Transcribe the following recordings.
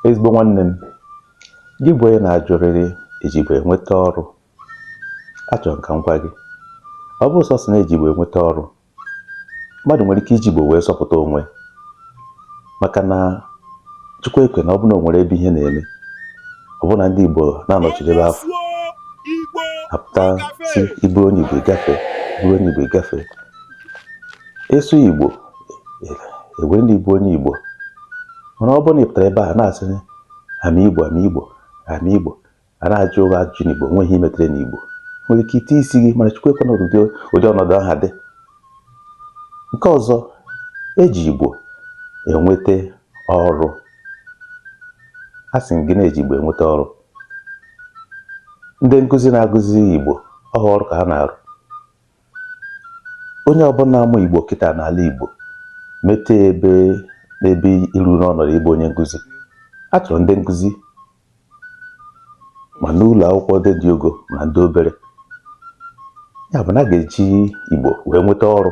ezigbo nwanne m gị bụ onye na-ajụrịrị eji igbo enweta ọrụ achọrọ m ka m gwa gị ọ bụ sọsọ na eji igbo enweta ọrụ mmadụ nwere ike iji igbo wee zọpụta onwe maka na chukwu ekwena ọ bụ na o nwere ebe ihe na-eme ọ bụ na ndị igbo na-anọchiri ebe afụ apụta sị ị bụrụ onye igbo gafe bụrụ onye igbo gafe ị sụ igbo ewere na ị bụ onye Igbo mana ọ bụrụ na ị pụtara ebe a na-asị ama Igbo ama Igbo ama Igbo a na-ajụ gị ajụjụ n'Igbo nweghị ihe i metere n'Igbo nwere ike ịta isi gị mana Chukwu ekwena ụdị ọnọdụ ahụ dị nke ọzọ eji Igbo enweta ọrụ asị m gị na eji Igbo enweta ọrụ ndị nkụzi na-akụzi Igbo ọ kwa ọrụ ka ha na-arụ onye ọbụla na-amụ Igbo kịta n'ala Igbo mete n'ebe iru n'ọnọdụ ịbụ onye nkụzi a chọrọ ndị nkụzi ma n'ụlọ akwụkwọ ndị dị ogo ma ndị obere ya bụ na a ga-eji Igbo wee nweta ọrụ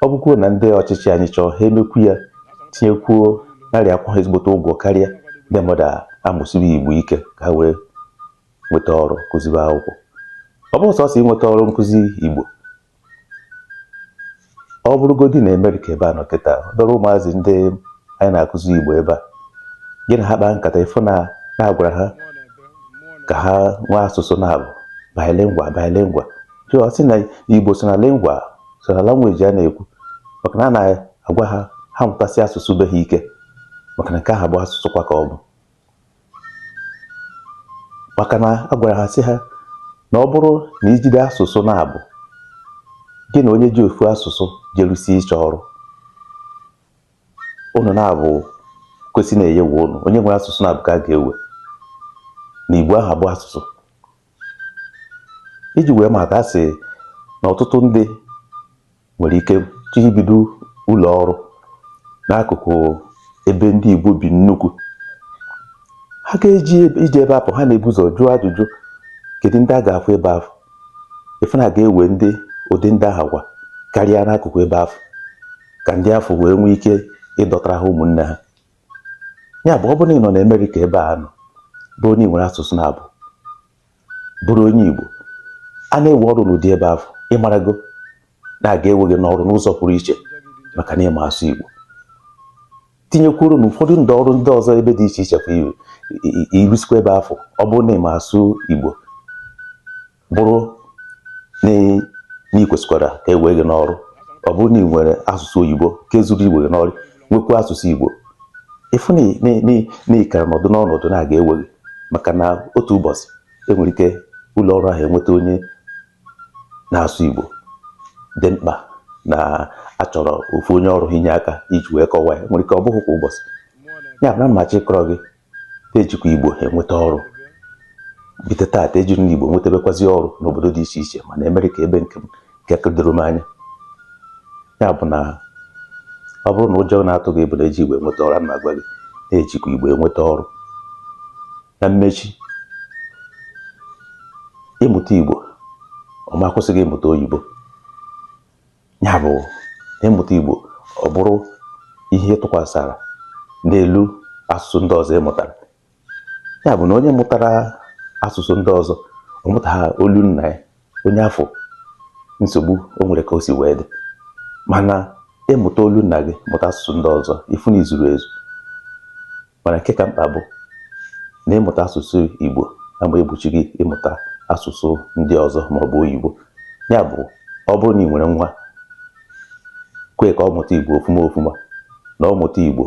ọ bụkwuo na ndị ọchịchị anyị chọọ ha emekwu ya tinyekwuo na-akwụkwa ezigbote ụgwọ karịa ndị mmadụ amụsie Igbo ike ka ha wee nweta ọrụ kụziwe akwụkwọ ọ bụrọ sọsọ inweta ọrụ nkụzi Igbo ọ bụrụgodi na Amerịka ebe a nọ kịta obere ụmụazị ndị anyị na-akụzi Igbo ebe a gị na ha kpaa nkata ị fụ na a na-agwara ha ka ha nwee asụsụ naabọ bilingual bilingual ọ sị na Igbo so na lingua so na language a na-ekwu maka na a na-agwa ha ha mụtasie asụsụ be ha ike maka na nke ahụ bụ asụsụ kwa ka ọ bụ maka na a gwara ha sị ha na ọ bụrụ na i jide asụsụ naabọ gị na onye ji ofu asụsụ jerusi ịchọ ọrụ ụnụ naabọ kwesị na a ya-ewe ụnụ onye nwere asụsụ naabọ ka a ga-ewe na igbo ahụ bụ asụsụ iji wee mata a sị na ọtụtụ ndị nwere ike chọọ ibido ụlọ ọrụ n'akụkụ ebe ndị Igbo bi nnukwu ha ga-eji eje ebe afụ ha na-ebu ụzọ jụọ ajụjụ kedu ndị a ga-afụ ebe afụ ị fụ na a ga-ewe ndị ụdị ndị ahụ kwa karịa n'akụkụ ebe afụ ka ndị afụ wee nwee ike ịdọtara ha ụmụnne ha ya bụ ọ bụrụ na ị nọ na Amerịka ebe a nọ bụrụ onye nwere asụsụ naabọ bụrụ onye Igbo a na-ewe ọrụ n'ụdị ebe afụ ị marago na a ga-ewe gị n'ọrụ n'ụzọ pụrụ iche maka na ị ma asụ Igbo tinyekwuru na ụfọdụ ndị ọrụ ndị ọzọ ebe dị iche iche kwa i rusikwa ebe afụ ọ bụrụ na ị ma asụ Igbo bụrụ na ị kwesịkwara ka e wee gị n'ọrụ ọ bụrụ na ị nwere asụsụ oyibo nke zuru iwe gị n'ọrụ nwekwa asụsụ igbo ị fụ na ị kara nọdụ n'ọnọdụ na a ga-ewe gị maka na otu ụbọchị enwere ike ụlọ ọrụ ahụ enweta onye na-asụ igbo dị mkpa na achọrọ ofu onye ọrụ inye aka iji wee kọwaa ya nwere ike ọ bụghị kwa ụbọchị ya bụ na m na-achọ ịkọrọ gị ejikwa Igbo enweta ọrụ bite taata ejirila Igbo nwetebekwazi ọrụ n'obodo dị iche iche ma na Amerịka ebe nke nke doro m anya ya bụ na ọ bụrụ na ụjọ na-atụ gị bụ na eji Igbo enweta ọrụ a na-agwa gị na ejikwa Igbo enweta ọrụ na mmechi ịmụta Igbo ọ ma akwụsị gị ịmụta oyibo ya bụ na ị mụta Igbo ọ bụrụ ihe tụkwasara n'elu asụsụ ndị ọzọ ị mụtara ya bụ na onye mụtara asụsụ ndị ọzọ ọ mụtaha olu nna ya onye afụ nsogbu o nwere ka o si wee dị mana ị mụta olu nna gị mụta asụsụ ndị ọzọ ị fụ na i zuru ezu Mana nke ka mkpa bụ na ịmụta asụsụ Igbo ama egbochi gị ịmụta asụsụ ndị ọzọ ma ọ bụ oyibo. Ya bụ, ọ bụrụ na ị nwere nwa, kwe ka ọ mụta Igbo ofuma ofuma, na ọ mụta Igbo,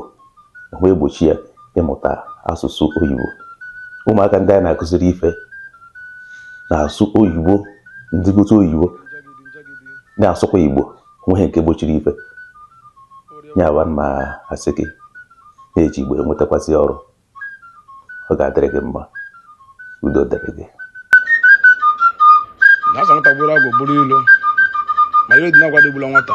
ọ ma egbochi ya ịmụta asụsụ oyibo. Ụmụaka ndị anyị na-akụziri ife na-asụ oyibo, ndị obodo oyibo, na-asụkwa Igbo. onweghị nke gbochiri ife ya bụ m asị gị na eji Igbo enwetakwazị ọrụ ọ ga-adịrị gị mma udo dịrị gị na asị nwata gburu agwọ buru ilo ma ihe dị n'agwọ dị gbula nwata